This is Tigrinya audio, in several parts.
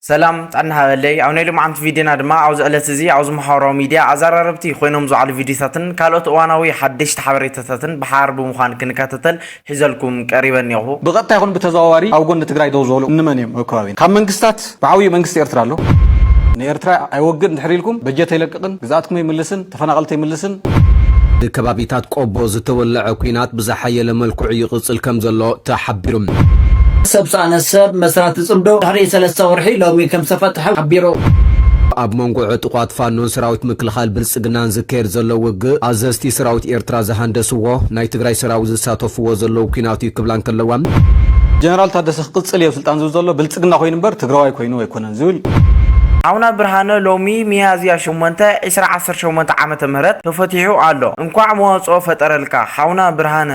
ሰላም ጥዕና ሃበለይ ኣብ ናይ ሎምዓንቲ ቪድዮና ድማ ኣብዚ ዕለት እዚ ኣብዚ ማሕበራዊ ሚድያ ኣዛራረብቲ ኮይኖም ዝውዓሉ ቪድዮታትን ካልኦት እዋናዊ ሓደሽቲ ሓበሬታታትን ብሓባር ብምዃን ክንከታተል ሒዘልኩም ቀሪበ እኔኹ። ብቐጥታ ይኹን ብተዘዋዋሪ ኣብ ጎኒ ትግራይ ደው ዝበሉ እንመን እዮም ኣብ ከባቢና? ካብ መንግስታት ብዓብዩ መንግስቲ ኤርትራ ኣሎ። ንኤርትራ ኣይወግእን ድሕር ኢልኩም በጀት ኣይለቅቕን ግዝኣትኩም ኣይምልስን፣ ተፈናቐልቲ ኣይምልስን። ብከባቢታት ቆቦ ዝተወለዐ ኲናት ብዝሓየለ መልክዑ ይቕፅል ከምዘሎ ተሓቢሩ። ሰብ ሰኣነ ሰብ መስራቲ ፅምዶ ድሕሪ ሰለስተ ወርሒ ሎሚ ከምዝተፈትሐ ሓቢሩ። ኣብ መንጎ ዕጡቓት ፋኖን ሰራዊት ምክልኻል ብልፅግናን ዝካየድ ዘሎ ውግእ ኣዘዝቲ ሰራዊት ኤርትራ ዝሃንደስዎ ናይ ትግራይ ሰራዊት ዝሳተፍዎ ዘለዉ ኲናት እዩ ክብላ እንከለዋ፣ ጀነራል ታደሰ ክቕፅል እየ ኣብ ስልጣን ዝብል ዘሎ ብልፅግና ኮይኑ እምበር ትግራዋይ ኮይኑ ኣይኮነን። ዝብል እዩ። ሓውና ብርሃነ ሎሚ ሚያዝያ ሸሞንተ ዕስራ ዓሰርተ ሸሞንተ ዓመተ ምህረት ተፈቲሑ ኣሎ እንኳዕ መዋጽኦ ፈጠረልካ ሓውና ብርሃነ።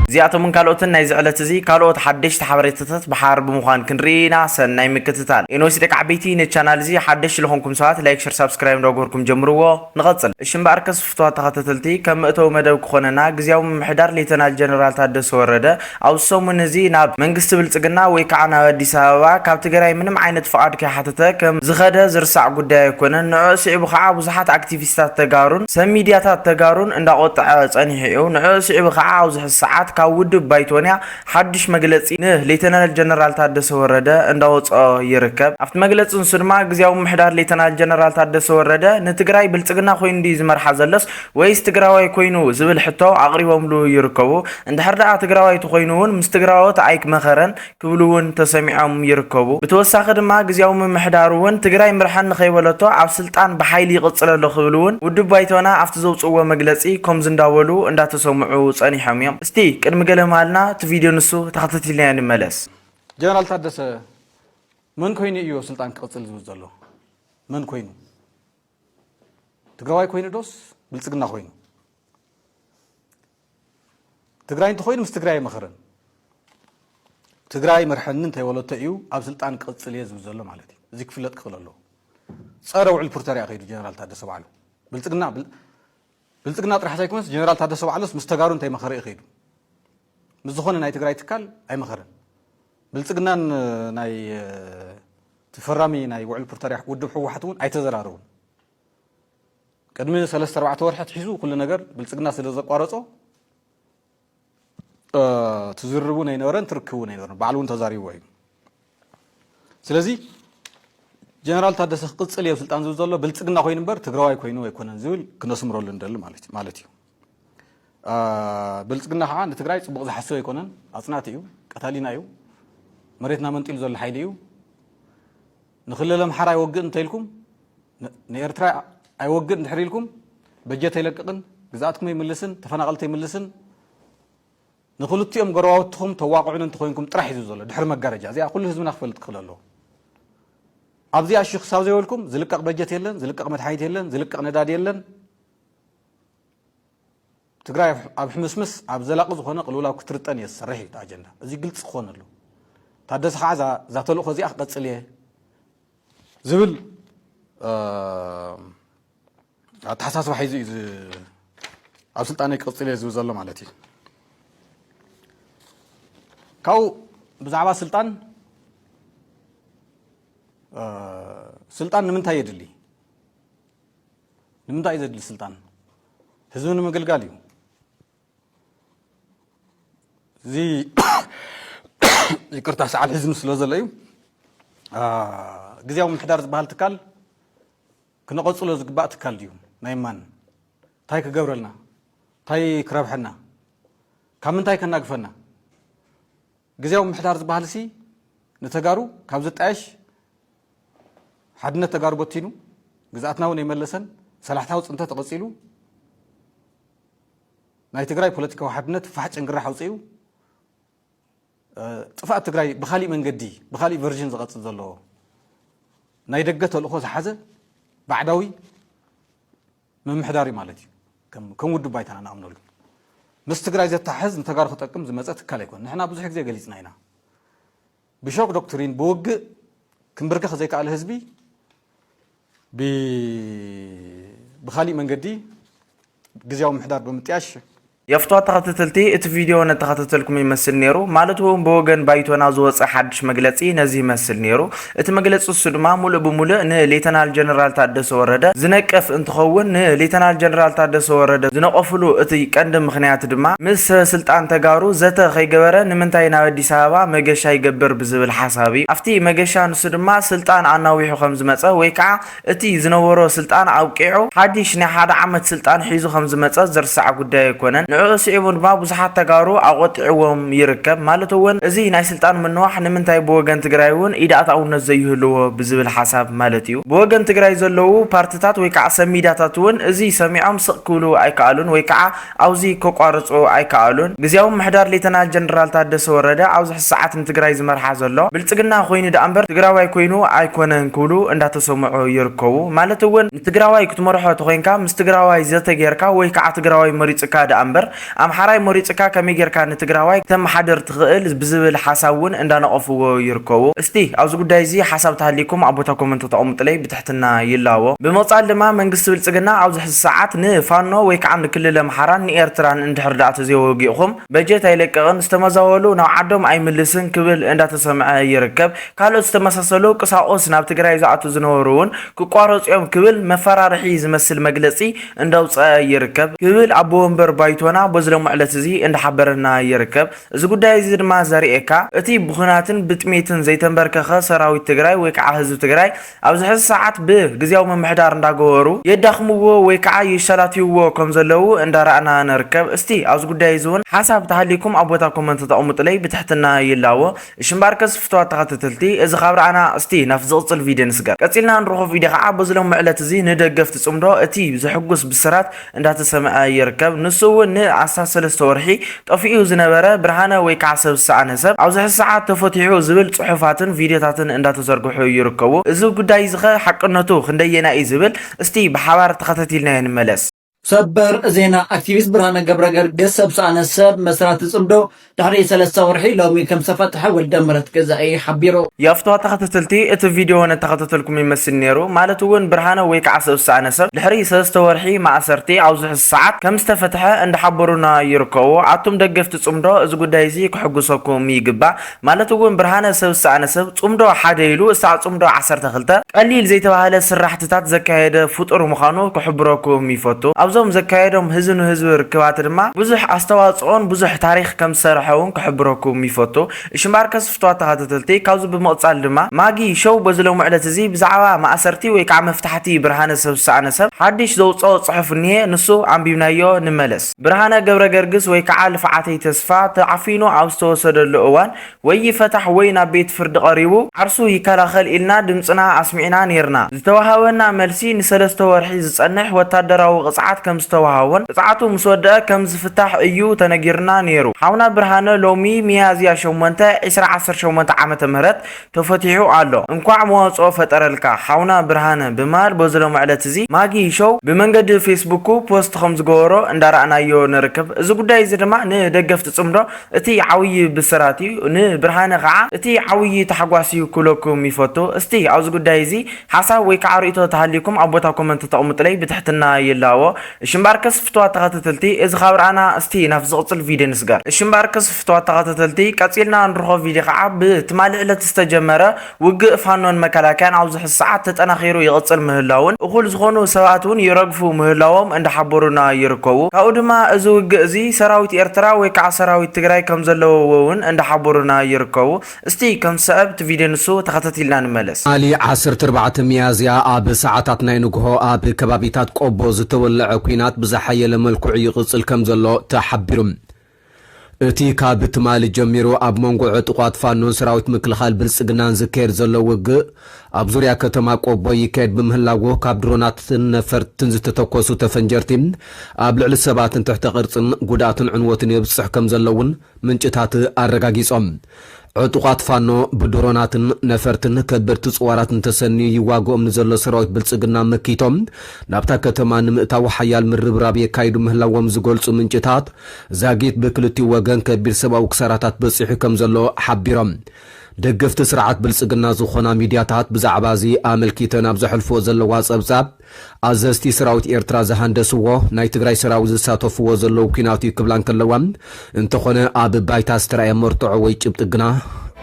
እዚኣቶምን ካልኦትን ናይዚ ዕለት እዚ ካልኦት ሓደሽቲ ሓበሬታታት ብሓባር ብምዃን ክንርኢ ኢና ሰናይ ምክትታል። ኤንወሲ ደቂ ዓበይቲ ነዚ ቻናል እዚ ሓደሽቲ ልኾንኩም ሰባት ላይክ ሸር ሳብስክራይብ እንዳገበርኩም ጀምርዎ ንቐጽል እሺ እምበኣርከስ ፍቱዋት ተኸታተልቲ፣ ከም መእተዊ መደብ ክኾነና፣ ግዝያዊ ምምሕዳር ሌተናል ጀነራል ታደሰ ወረደ፣ ኣብዚ ሰሙን እዚ ናብ መንግስቲ ብልጽግና ወይ ከዓ ናብ ኣዲስ ኣበባ ካብ ትግራይ ምንም ዓይነት ፍቓድ ከይሓተተ ከም ዝኸደ ዝርሳዕ ጉዳይ ኣይኮነን። ንዕዑ ስዒቡ ከዓ ብዙሓት ኣክቲቪስታት ተጋሩን ሰብ ሚድያታት ተጋሩን እንዳቆጠዐ ፀኒሑ እዩ። ንዕዑ ስዒቡ ከዓ ኣብዚ ሕዚ ሰዓት ካብ ውድብ ባይቶንያ ሓዱሽ መግለጺ ን ሌተናል ጀነራል ታደሰ ወረደ እንዳወጸኦ ይርከብ። ኣብቲ መግለጺ ንሱ ድማ ግዝያዊ ምምሕዳር ሌተናል ጀነራል ታደሰ ወረደ ንትግራይ ብልጽግና ኮይኑ ድዩ ዝመርሓ ዘሎስ ወይስ ትግራዋይ ኮይኑ ዝብል ሕቶ ኣቕሪቦምሉ ይርከቡ። እንድሕር ደኣ ትግራዋይ ተኾይኑ እውን ምስ ትግራዎት ኣይክመኸረን ክብሉ እውን ተሰሚዖም ይርከቡ። ብተወሳኺ ድማ ግዝያዊ ምምሕዳር እውን ትግራይ ምርሐኒ ከይበለቶ ኣብ ስልጣን ብሓይሊ ይቕጽል ኣሎ ክብል እውን ውድብ ባይቶና ኣብቲ ዘውጽእዎ መግለጺ ኮምዚ እንዳበሉ እንዳተሰምዑ ጸኒሖም እዮም። እስቲ ቅድሚ ገለ መሃልና እቲ ቪድዮ ንሱ ተኸታቲልናዮ ንመለስ። ጀነራል ታደሰ መን ኮይኑ እዮ ስልጣን ክቕፅል ዝብል ዘሎ? መን ኮይኑ? ትግራዋይ ኮይኑ ዶስ ብልፅግና ኮይኑ? ትግራይ እንተኾይኑ ምስ ትግራይ ኣይመኸረን። ትግራይ መርሐኒ እንተይበለቶ እዩ ኣብ ስልጣን ክቕፅል እየ ዝብል ዘሎ ማለት እዩ። እዚ ክፍለጥ ክኽእል ኣለዎ። ፀረ ውዕል ፕሪቶሪያ ከይዱ ጀነራል ታደሰ ባዕሉ ብልፅግና ብልፅግና ጥራሕ ዘይኮነስ ጀነራል ታደሰ ባዕሉስ ምስ ተጋሩ እንታይ መኸረ እዩ ከይዱ? ምስ ዝኾነ ናይ ትግራይ ትካል ኣይመኸረን። ብልፅግናን ናይ እቲ ፈራሚ ናይ ውዕል ፕሪቶርያ ውድብ ህወሓት እውን ኣይተዘራረቡን። ቅድሚ ሰለስተ ኣርባዕተ ወርሒ ኣትሒዙ ኩሉ ነገር ብልፅግና ስለ ዘቋረፆ ትዝርብ እውን ኣይነበረን ትርክብ እውን ኣይነበረን ባዕሉ እውን ተዛሪብዎ እዩ ስለዚ ጀነራል ታደሰ ክቅፅል እየ ስልጣን ዝብል ዘሎ ብልፅግና ኮይኑ እምበር ትግራዋይ ኮይኑ ኣይኮነን ዝብል ክነስምረሉ ንደሊ ማለት እዩ ብልፅግና ከዓ ንትግራይ ፅቡቅ ዝሓስብ ኣይኮነን ኣፅናቲ እዩ ቀታሊና እዩ መሬትና መንጢሉ ዘሎ ሓይሊ እዩ ንክልል ኣምሓራ ይወግእ እንተኢልኩም ንኤርትራ ኣይወግእ እንድሕር ኢልኩም በጀት ኣይለቅቕን ግዝኣትኩም ኣይምልስን ተፈናቐልቲ ኣይምልስን ንክልቲኦም ጎረባብትኹም ተዋቕዑን እንተኾይንኩም ጥራሕ እዩ ዘሎ ድሕሪ መጋረጃ እዚኣ ኩሉ ህዝብና ክፈልጥ ክኽእል ኣለዎ ኣብዚኣ እሺ ክሳብ ዘይበልኩም ዝልቀቕ በጀት የለን ዝልቀቕ መድሓኒት የለን ዝልቀቕ ነዳዲ የለን ትግራይ ኣብ ሕምስምስ ኣብ ዘላቂ ዝኾነ ቅልውላው ክትርጠን እየ ዝሰርሕ እዩ እቲ ኣጀንዳ እዚ ግልፂ ክኾን ኣለዎ ታደሰ ከዓ እዛ ተልእኾ እዚኣ ክቐፅል እየ ዝብል ኣተሓሳስባ ሒዙ እዩ ኣብ ስልጣነይ ክቕፅል እየ ዝብል ዘሎ ማለት እዩ ካብኡ ብዛዕባ ስልጣን ስልጣን ንምንታይ የድሊ ንምንታይ እዩ ዘድሊ ስልጣን ህዝቢ ንምግልጋል እዩ እዚ ይቅርታ ሰዓብ ሒዝኑ ስለ ዘሎ እዩ ግዜያዊ ምሕዳር ዝበሃል ትካል ክነቐፅሎ ዝግባእ ትካል ድዩ ናይ ማን እንታይ ክገብረልና እንታይ ክረብሐና ካብ ምንታይ ከናግፈና ግዝያዊ ምምሕዳር ዝበሃልሲ ንተጋሩ ካብ ዝጣየሽ ሓድነት ተጋሩ በቲኑ ግዝኣትና እውን ኣይመለሰን ሰላሕታዊ ፅንተት ቐፂሉ ናይ ትግራይ ፖለቲካዊ ሓድነት ፋሕ ጭንግራሕ ኣውፅኡ ጥፍኣት ትግራይ ብካሊእ መንገዲ ብካሊእ ቨርዥን ዝቐፅል ዘሎ ናይ ደገ ተልእኾ ዝሓዘ ባዕዳዊ ምምሕዳር እዩ ማለት እዩ ከም ከም ውድብ ባይታና ንኣምነሉ ምስ ትግራይ ዘተሓሕዝ ንተጋሩ ክጠቅም ዝመፀ ትካል ኣይኮን ንሕና ብዙሕ ግዜ ገሊፅና ኢና ብሾክ ዶክትሪን ብውግእ ክንብርከኽ ዘይከኣለ ህዝቢ ብካሊእ መንገዲ ግዜያዊ ምሕዳር ብምጥያሽ የፍቷ ተኸተተልቲ እቲ ቪድዮ ነተኸተተልኩም ይመስል ነይሩ ማለት እውን ብወገን ባይቶና ዝወፀ ሓድሽ መግለፂ ነዚ ይመስል ነይሩ እቲ መግለፂ እሱ ድማ ሙሉእ ብሙሉእ ንሌተናል ጀነራል ታደሰ ወረደ ዝነቅፍ እንትኸውን ንሌተናል ጀነራል ታደሰ ወረደ ዝነቆፍሉ እቲ ቀንዲ ምኽንያት ድማ ምስ ሰበ ስልጣን ተጋሩ ዘተ ከይገበረ ንምንታይ ናብ ኣዲስ ኣበባ መገሻ ይገብር ብዝብል ሓሳብ እዩ ኣፍቲ መገሻ ንሱ ድማ ስልጣን ኣናዊሑ ከምዝመፀ ወይ ከዓ እቲ ዝነበሮ ስልጣን ኣብቂዑ ሓዲሽ ናይ ሓደ ዓመት ስልጣን ሒዙ ከምዝመፀ ዝርሳዕ ጉዳይ ኣይኮነን። ንዕኡ ስዒቡ ድማ ብዙሓት ተጋሩ ኣቖጢዕዎም ይርከብ። ማለት እውን እዚ ናይ ስልጣን ምንዋሕ ንምንታይ ብወገን ትግራይ እውን ኢድ ኣትኣውነት ዘይህልዎ ብዝብል ሓሳብ ማለት እዩ። ብወገን ትግራይ ዘለዉ ፓርትታት ወይ ከዓ ሰብ ሚድያታት እውን እዚ ሰሚዖም ስቕ ክብሉ ኣይከኣሉን ወይ ከዓ ኣብዙይ ከቋርፁ ኣይከኣሉን። ግዝያዊ ምምሕዳር ሌተናል ጀነራል ታደሰ ወረደ ኣብዚ ሕዚ ሰዓት ንትግራይ ዝመርሓ ዘሎ ብልፅግና ኮይኑ ደኣምበር ትግራዋይ ኮይኑ ኣይኮነን ክብሉ እንዳተሰምዑ ይርከቡ። ማለት እውን ንትግራዋይ ክትመርሖ ተኾይንካ ምስ ትግራዋይ ዘተ ገይርካ ወይ ከዓ ትግራዋይ መሪፁካ ደኣምበር ኣምሓራይ መሪፁካ ከመይ ገይርካ ንትግራዋይ ክተመሓድር ትኽእል ብዝብል ሓሳብ እውን እንዳነቐፍዎ ይርከቡ። እስቲ ኣብዚ ጉዳይ እዚ ሓሳብ ተሃልይኩም ኣብ ቦታ ኮመንት ተቐምጡለይ ብትሕትና። ትሕትና ይላቦ። ብምቕጻል ድማ መንግስቲ ብልጽግና ኣብዚ ሕዚ ሰዓት ን ፋኖ ወይ ከዓ ን ክልል ኣምሓራን ን ኤርትራን እንድሕር ድኣ ተዘይወጊእኹም በጀት ኣይለቅቕን ዝተመዛበሉ ናብ ዓዶም ኣይምልስን ክብል እንዳተሰምዐ ይርከብ ካልኦት ዝተመሳሰሉ ቅሳቁስ ናብ ትግራይ ዝኣትው ዝነበሩ እውን ክቋረጹ እዮም ክብል መፈራርሒ ዝመስል መግለጺ እንዳውጸኣ ይርከብ ክብል ኣቦ ወንበር ባይቶና በዚ ለሞ ዕለት እዚ እንዳሓበረና ይርከብ። እዚ ጉዳይ እዚ ድማ ዘርእየካ እቲ ብኹናትን ብጥሜትን ዘይተንበርከኸ ሰራዊት ትግራይ ወይ ከዓ ህዝቢ ትግራይ ኣብዚ ሕዚ ሰዓት ብ ግዝያዊ ምምሕዳር እንዳገበሩ የዳኽምዎ ወይ ከዓ የሻላትይዎ ከም ዘለዉ እንዳረኣና ንርከብ እስቲ ኣብዚ ጉዳይ እዚ እውን ሓሳብ ተሃልይኩም ኣብ ቦታ ኮመንት ተቐሙጡለይ ብትሕትና ይላቦ እሺ እምበኣርከስ ፍትዋት ተኸተተልቲ እዚ ካብ ረኣና እስቲ ናብቲ ዝቕፅል ቪድዮ ንስገር ቀፂልና ንረኽቦ ቪድዮ ከዓ በዚ ሎሚ ዕለት እዚ ንደገፍቲ ፅምዶ እቲ ዘሕጉስ ብስራት እንዳተሰምዐ ይርከብ። ንሱ እውን ን ኣስታት ሰለስተ ወርሒ ጠፊኡ ዝነበረ ብርሃነ ወይ ከዓ ሰብ ዝሰኣነ ሰብ ኣብዚ ሕዚ ሰዓት ተፈቲሑ ዝብል ፅሑፋትን ቪድዮታትን እንዳተዘርግሑ ይርከቡ። እዚ ጉዳይ እዚ ከ ሓቅነቱ ክንደየናይ እዩ ዝብል እስቲ ብሓባር ተኸታቲልናዮ ንመለስ። ሰበር ዜና ኣክቲቪስት ብርሃነ ገብረገርግስ ሰብ ዝሰኣነ ሰብ መስራቲ ፅምዶ ድሕሪ ሰለስተ ወርሒ ሎሚ ከምዝተፈትሐ ወልደምህረት ገዛኢ ሓቢሩ። ያፍትዋ ተኸታተልቲ እቲ ቪድዮ ነተኸታተልኩም ይመስል ነይሩ ማለት እውን ብርሃነ ወይ ከዓ ሰብ ዝሰኣነ ሰብ ድሕሪ ሰለስተ ወርሒ ማእሰርቲ ኣብዚ ሕዚ ሰዓት ከምዝተፈትሐ እንዳሓበሩና ይርከቡ ኣቱም ደገፍቲ ፅምዶ እዚ ጉዳይ እዚ ክሕጉሰኩም ይግባእ ማለት እውን ብርሃነ ሰብ ዝሰኣነ ሰብ ፅምዶ ሓደ ኢሉ እሳዕ ፅምዶ ዓሰርተ ክልተ ቀሊል ዘይተባህለ ስራሕቲ ቃልስታት ዘካየደ ፍጡር ምዃኑ ክሕብረኩም ይፈቱ። ኣብዞም ዘካየዶም ህዝቢ ንህዝቢ ርክባት ድማ ብዙሕ ኣስተዋጽኦን ብዙሕ ታሪኽ ከም ዝሰርሐ ውን ክሕብረኩም ይፈቱ። እሺ ማርከስ ፍቱዋት ተኸታተልቲ ካብዚ ብምቕጻል ድማ ማጊ ሾው በዚ ሎሚ ዕለት እዚ ብዛዕባ ማእሰርቲ ወይ ከዓ መፍታሕቲ ብርሃነ ሰብ ዝሰኣነ ሰብ ሓዲሽ ዘውጸኦ ጽሑፍ እኒሀ ንሱ ኣንቢብናዮ ንመለስ። ብርሃነ ገብረገርግስ ወይ ከዓ ልፍዓተይ ተስፋ ተዓፊኑ ኣብ ዝተወሰደሉ እዋን ወይ ይፈታሕ ወይ ናብ ቤት ፍርዲ ቀሪቡ ዓርሱ ይከላኸል ኢልና ድምፅና ኣስሚዕና ነይርና። ዝተወሃበና መልሲ ንሰለስተ ወርሒ ዝፀንሕ ወታደራዊ ቅፅዓት ከምዝተወሃቦን ቅፅዓቱ ምስ ወደኣ ከም ዝፍታሕ እዩ ተነጊሩና ነይሩ። ሓውና ብርሃነ ሎሚ ሚያዝያ ሸሞንተ ዕስራ ዓሰርተ ሸሞንተ ዓመተ ምህረት ተፈቲሑ ኣሎ። እንኳዕ መዋፅኦ ፈጠረልካ ሓውና ብርሃነ ብምባል በዚ ሎምዕለት እዚ ማጊ ሾው ብመንገዲ ፌስቡኩ ፖስት ከምዝገበሮ እንዳረኣናዮ ንርክብ። እዚ ጉዳይ እዚ ድማ ንደገፍቲ ፅምዶ እቲ ዓውዪ ብስራት እዩ ን ብርሃነ ካዓ እቲ ዓውዪ ታሕጓስ እዩ ክብለኩም ይፈቱ እስቲ ኣብዚ ጉዳይ እዚ ሓሳብ ወይ ካዓ ርእይቶ ተሃልዩኩም ኣብ ቦታ ኮመንት ተቅምጡለይ ብትሕትና ይላኣዎ እሺ እምበኣርከስ ፍትዋት ተከተተልቲ እዚ ካብ ራኣና እስቲ ናብቲ ዝቅፅል ቪድዮ ንስገር። እሺ እምበኣርከስ ፍትዋት ተከተተልቲ ቀፂልና ንርኾ ቪድዮ ካዓ ብ ትማሊ ዕለት ዝተጀመረ ውግእ ፋኖን መከላከያን ኣብዚ ሕዚ ሰዓት ተጠናኺሩ ይቕፅል ምህላዉን እኹል ዝኾኑ ሰብኣት እውን ይረግፉ ምህላዎም እንዳሓበሩና ይርከቡ። ካብኡ ድማ እዚ ውግእ እዚ ሰራዊት ኤርትራ ወይ ከዓ ሰራዊት ትግራይ ከምዘለዉዎ እውን እንዳሓበሩና ይርከቡ። እስቲ ከም ዝሰዕብ እቲ ቪድዮ ንሱ ተኸታቲልና ንመለስ። ትማሊ ዓሰርተ ኣርባዕተ ሚያዝያ ኣብ ሰዓታት ናይ ንጉሆ ኣብ ከባቢታት ቆቦ ዝተወለዐ ኲናት ብዝሓየለ መልክዑ ይቕፅል ከምዘሎ ተሓቢሩ። እቲ ካብ ትማሊ ጀሚሩ ኣብ መንጎ ዕጡቓት ፋኖን ሰራዊት ምክልኻል ብልፅግናን ዝካየድ ዘሎ ውግእ ኣብ ዙርያ ከተማ ቆቦ ይካየድ ብምህላዉ ካብ ድሮናትን ነፈርትን ዝተተኮሱ ተፈንጀርቲ ኣብ ልዕሊ ሰባትን ትሕተ ቅርፅን ጉድኣትን ዕንወትን የብፅሕ ከምዘሎ እውን ምንጭታት ኣረጋጊፆም። ዕጡቓት ፋኖ ብድሮናትን ነፈርትን ከበድቲ ጽዋራትን ተሰንዩ ይዋግኦም ንዘሎ ሰራዊት ብልጽግና መኪቶም ናብታ ከተማ ንምእታው ሓያል ምርብራብ የካይዱ ምህላዎም ዝገልጹ ምንጭታት ዛጊት ብክልቲኡ ወገን ከቢድ ሰብኣዊ ክሳራታት በጺሑ ከምዘሎ ሓቢሮም። ደገፍቲ ስርዓት ብልጽግና ዝኾና ሚድያታት ብዛዕባ'ዚ ኣመልኪተን ኣብ ዘሕልፍዎ ዘለዋ ጸብጻብ፣ ኣዘዝቲ ሰራዊት ኤርትራ ዝሃንደስዎ፣ ናይ ትግራይ ሰራዊት ዝሳተፍዎ ዘለዉ ኲናት እዩ ክብላ እንከለዋ፣ እንተኾነ ኣብ ባይታ ዝተራእየ መርትዖ ወይ ጭብጢ ግና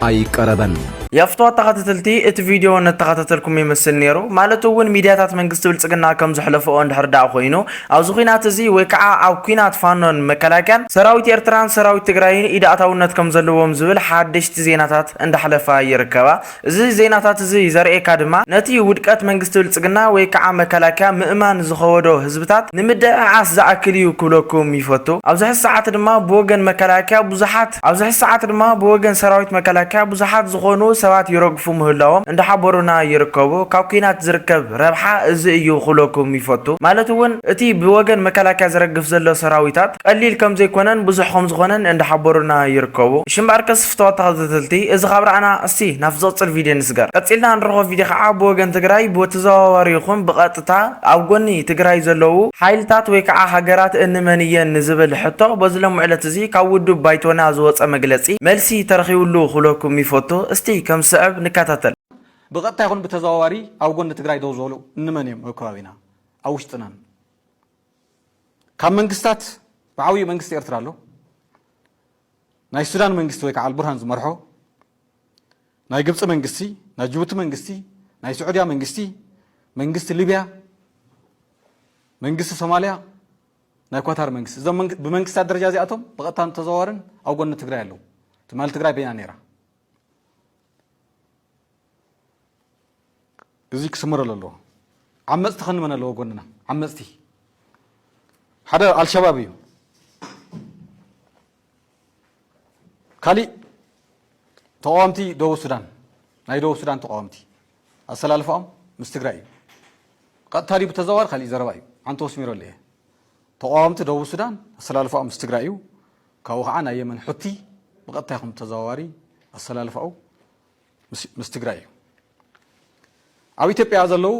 ኣይቀረበን። የፍትዋ ተኻተተልቲ እቲ ቪድዮ ነተኻታተልኩም ይመስል ነይሩ ማለት እውን ሚድያታት መንግስቲ ብልፅግና ከምዝሕለፈኦ እንድሕር ድኣ ኮይኑ ኣብዚ ኹናት እዚ ወይ ከዓ ኣብ ኲናት ፋኖን መከላከያን ሰራዊት ኤርትራን ሰራዊት ትግራይን ኢድ ኣእታውነት ከምዘለዎም ዝብል ሓደሽቲ ዜናታት እንዳሕለፋ ይርከባ። እዚ ዜናታት እዚ ዘርእየካ ድማ ነቲ ውድቀት መንግስቲ ብልጽግና ወይ ክዓ መከላከያ ምእማን ዝኸወዶ ህዝብታት ንምድዕዓስ ዝኣክል እዩ ክብለኩም ይፈቱ። ኣብዚ ሕዚ ሰዓት ድማ ብወገን መከላከያ ብዙሓት ኣብዚ ሕዚ ሰዓት ድማ ብወገን ሰራዊት መከላከያ ብዙሓት ዝኾኑ ሰባት ይረግፉ ምህላዎም እንዳሓበሩና ይርከቡ። ካብ ኩናት ዝርከብ ረብሓ እዚ እዩ ክብለኩም ይፈቱ። ማለት እውን እቲ ብወገን መከላከያ ዝረግፍ ዘሎ ሰራዊታት ቀሊል ከምዘይኮነን ብዙሕ ከምዝኾነን እንዳሓበሩና ይርከቡ። እሺ እምበኣርከስ ፍተወት ተኸታተልቲ እዚ ካብ ረኣና እስቲ ናብ ዝቕጽል ቪድዮ ንስገር። ቀጺልና ንረኽቦ ቪድዮ ከኣ ብወገን ትግራይ ብተዘዋዋሪ ይኹን ብቐጥታ ኣብ ጎኒ ትግራይ ዘለዉ ሓይልታት ወይ ከኣ ሃገራት እንመን እየን ንዝብል ሕቶ በዚ ሎሚ ዕለት እዚ ካብ ውድብ ባይቶና ዝወጸ መግለጺ መልሲ ተረኺቡሉ ክብለኩም ይፈቱ። እስቲ ከም ዝስዕብ ንከታተል። ብቐጥታ ይኹን ብተዘዋዋሪ ኣብ ጎኒ ትግራይ ደው ዝበሉ እንመን እዮም ኣብ ከባቢና ኣብ ውሽጥናን ካብ መንግስታት ብዓብዩ መንግስቲ ኤርትራ ኣሎ። ናይ ሱዳን መንግስቲ ወይ ከዓ ኣልቡርሃን ዝመርሖ፣ ናይ ግብፂ መንግስቲ፣ ናይ ጅቡቲ መንግስቲ፣ ናይ ስዑድያ መንግስቲ፣ መንግስቲ ሊብያ፣ መንግስቲ ሶማልያ፣ ናይ ኳታር መንግስቲ እዞም ብመንግስታት ደረጃ እዚኣቶም ብቐጥታን ብተዘዋዋርን ኣብ ጎኒ ትግራይ ኣለዉ። ትማሊ ትግራይ በይና ነይራ። እዙይ ክስመረሉ ኣለዎ። ዓመፅቲ ከንመን ኣለዎ ጎንና ዓመፅቲ ሓደ ኣልሸባብ እዩ ካሊእ ተቃወምቲ ደቡብ ሱዳን ናይ ደቡብ ሱዳን ተቃወምቲ ኣሰላልፋኦም ምስ ትግራይ እዩ ቀጥታ ድዩ ብተዘዋዋሪ ካሊእ ዘረባ እዩ ዓንተ ወስሚረሉ እየ ተቃወምቲ ደቡብ ሱዳን ኣሰላልፋኦም ምስ ትግራይ እዩ ካብኡ ከዓ ናይ የመን ሑቲ ብቐጥታ ይኹን ብተዘዋዋሪ ኣሰላልፋኡ ምስ ትግራይ እዩ። ኣብ ኢትዮጵያ ዘለው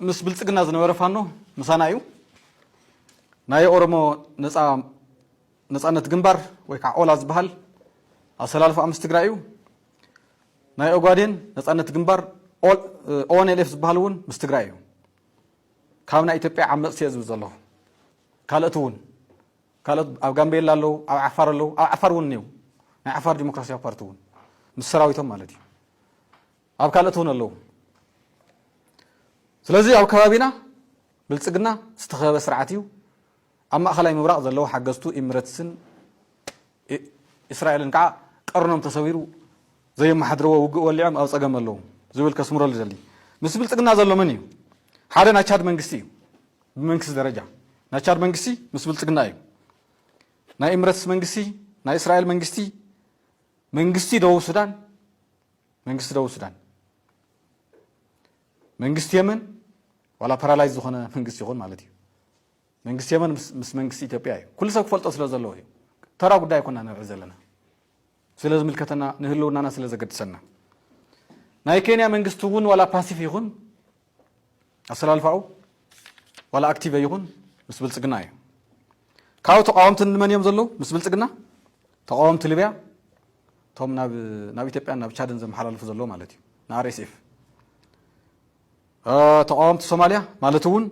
ምስ ብልፅግና ዝነበረ ፋኖ ምሳና እዩ። ናይ ኦሮሞ ነፃ ነፃነት ግንባር ወይ ከዓ ኦላ ዝበሃል ኣሰላልፋ ምስ ትግራይ እዩ። ናይ ኦጋዴን ነፃነት ግንባር ኦንኤልኤፍ ዝበሃል እውን ምስ ትግራይ እዩ። ካብ ናይ ኢትዮጵያ ዓመፅቲ እየ ዝብል ዘለኹ ካልእቲ እውን ካልኦት ኣብ ጋምቤላ ኣለዉ ኣብ ዓፋር ኣለዉ ኣብ ዓፋር እውን እኔዉ ናይ ዓፋር ዲሞክራሲያዊ ፓርቲ እውን ምስ ሰራዊቶም ማለት እዩ ኣብ ካልኦት እውን ኣለዉ ስለዚ ኣብ ከባቢና ብልጽግና ዝተኸበበ ስርዓት እዩ ኣብ ማእኸላይ ምብራቕ ዘለዉ ሓገዝቱ ኢምረትስን እስራኤልን ከዓ ቀርኖም ተሰቢሩ ዘየመሓድርዎ ውግእ ወሊዖም ኣብ ፀገም ኣለዉ ዝብል ከስምረሉ ዘሊ ምስ ብልፅግና ዘሎ መን እዩ ሓደ ናይ ቻድ መንግስቲ እዩ ብመንግስቲ ደረጃ ናይ ቻድ መንግስቲ ምስ ብልጽግና እዩ ናይ ኢምረትስ መንግስቲ ናይ እስራኤል መንግስቲ መንግስቲ ደቡብ ሱዳን መንግስቲ ደቡብ ሱዳን መንግስቲ የመን ዋላ ፓራላይዝ ዝኾነ መንግስቲ ይኹን ማለት እዩ መንግስቲ የመን ምስ መንግስቲ ኢትዮጵያ እዩ ኩሉ ሰብ ክፈልጦ ስለ ዘለዎ እዩ ተራ ጉዳይ ኮና ንርኢ ዘለና ስለ ዝምልከተና ንህልውናና ስለ ዘገድሰና ናይ ኬንያ መንግስቲ እውን ዋላ ፓሲፍ ይኹን ኣሰላልፋኡ ዋላ ኣክቲቨ ይኹን ምስ ብልፅግና እዩ ካብኡ ተቃወምቲ ንመን እዮም ዘለዉ ምስ ብልፅግና ተቃወምቲ ልብያ እቶም ናብ ኢትዮጵያን ናብ ቻድን ዘመሓላልፉ ዘለዎ ማለት እዩ ንኣርኤስኤፍ ተቃወምቲ ሶማልያ ማለት እውን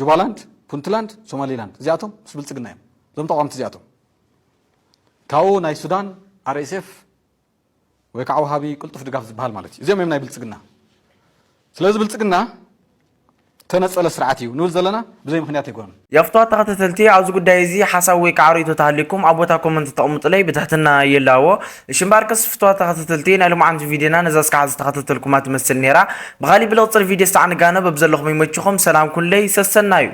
ጁባላንድ ፑንትላንድ ሶማሊላንድ እዚኣቶም ምስ ብልፅግና እዮም እዞም ተቃወምቲ እዚኣቶም ካብኡ ናይ ሱዳን RSF ወይ ከዓ ወሃቢ ቅልጡፍ ድጋፍ ዝበሃል ማለት እዩ። እዚኦም እዮም ናይ ብልፅግና። ስለዚ ብልፅግና ተነፀለ ስርዓት እዩ ንብል ዘለና ብዘይ ምክንያት ኣይኮነን። የፍትዋ ተኸተተልቲ ኣብዚ ጉዳይ እዚ ሓሳብ ወይ ከዓ ሪኢቶ ተሃልዩኩም ኣብ ቦታ ኮመንት ተቅምጡለይ ብትሕትና ይላዎ እሺ እምበኣርከስ ፍትዋት ተኸተተልቲ ናይ ሎምዓንቲ ቪድዮና ነዛ እስካዕ ዝተኸተተልኩማ ትመስል ነይራ ብኻሊእ ብልቅፅል ቪድዮ እስታዕ ንጋነብ ኣብ ዘለኹም ይመችኹም ሰላም ኩንለይ ሰሰናዩ